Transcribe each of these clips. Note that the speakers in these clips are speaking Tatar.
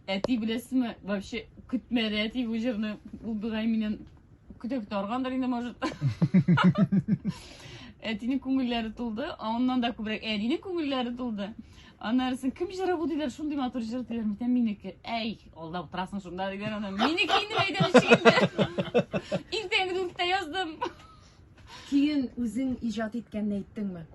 Әти беләсеме, вообще көтмәде әти бу җырны. Ул бигай миннән көтеп торгандыр инде, может. Әтинең күңелләре тулды, аннан да күбрәк әнинең күңелләре тулды. Аннарысын кем җыры бу диләр, шундый матур җыр диләр, микән минеке. Әй, алда утырасың шунда дигән ана. Минеке инде әйдәр ишегендә. Иртәнге дүрттә яздым. Көен үзең иҗат иткәнне әйттеңме?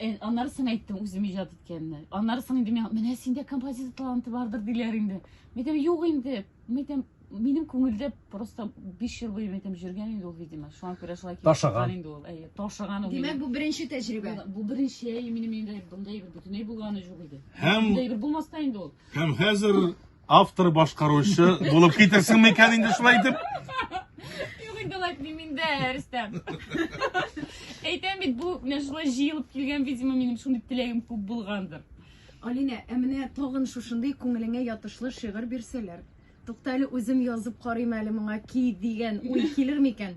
Э, аннары соң әйттем үзем иҗат иткәнне. Аннары соң инде миңа, менә синдә композитор таланты бардыр диләр инде. Мин әйтәм, юк инде. Мин әйтәм, минем күңелдә просто 5 ел буе мин әйтәм йөргән инде ул, видимо. Шуңа күрә шулай килеп Ташыган. чыккан инде ул. Әйе, ташыган ул. Димәк, минем. бу беренче тәҗрибә. Бу- Бу беренче әйе, минем өйдә бундай бер бөтенләй булганы юк иде. Һәм- Бундай бер булмас та инде ул. Һәм хәзер Автор башкаручы булып китерсең микән инде шулай итеп? Юк инде алай дим инде, Рөстәм. Әйтәм бит, бу менә шулай җыелып килгән, видимо, минем шундый теләгем күп булгандыр. Алинә, ә менә тагын шушындый күңелеңә ятышлы шигырь бирсәләр. Тукта әле үзем язып карыйм әле моңа ки дигән уй килер микән?